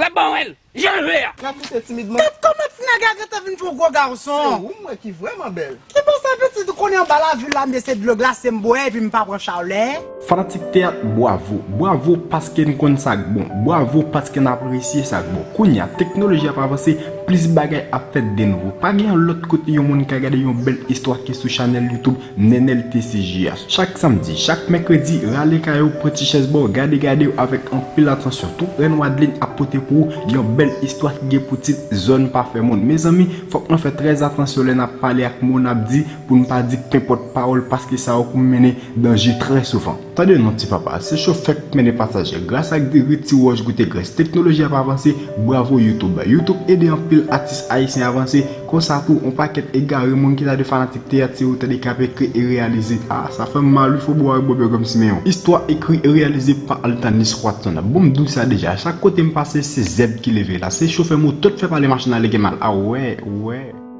Lap ba wel janl vle a. Nap kite timid man. Gad koman ti nèg la gentan vin twò gwo gason. Se ou m wè ki vrèman bèl. Ki bon sa pitit ou konnen anba lavil la mnde se dlo glase m bwè epi m pa pran chalè. Fanatik teyat bwavo bwavo paske n konn sak bon bwavo paske n apresye sak bon kounya teknoloji ap avanse plis bagay ap fèt denouvo pa gen yon lòt kote yon moun ka gade yon bèl istwa ki sou chanèl youtube Nenel TCJ a chak samdi, chak mèkredi rale kay ou pran ti chèz ba w gade gade w avèk anpil atansyon tout rèn Wadeline ap pote pou ou yon bèl istwa ki gen pou tit zòn pa fè moun mezanmi fòk nan fè trè atansyon lè nap pale ak mo nap di pou n pa di kenpòt pawòl paske sa yo k mennen danje trè souvan. Tande non ti papa, se chofè k mennen pasaje, gras ak diri ti wòch goute grès, teknoloji ap avanse, bravo YouTube. YouTube ede anpil atis ayisyen avanse, konsa tou on pakèt egare moun ki ta dwe fanatik teyat se yo tande ki ap ekri e reyalize, ah sa fèm mal wi Fobo ak Bob yo konn Simeon. Istwa ekri e reyalize pa Altanis Watson, bon m diw sa deja, chak kote m pase se zèb ki leve la, se chofè moto t fè pale machin la lege mal, ah wè, wè.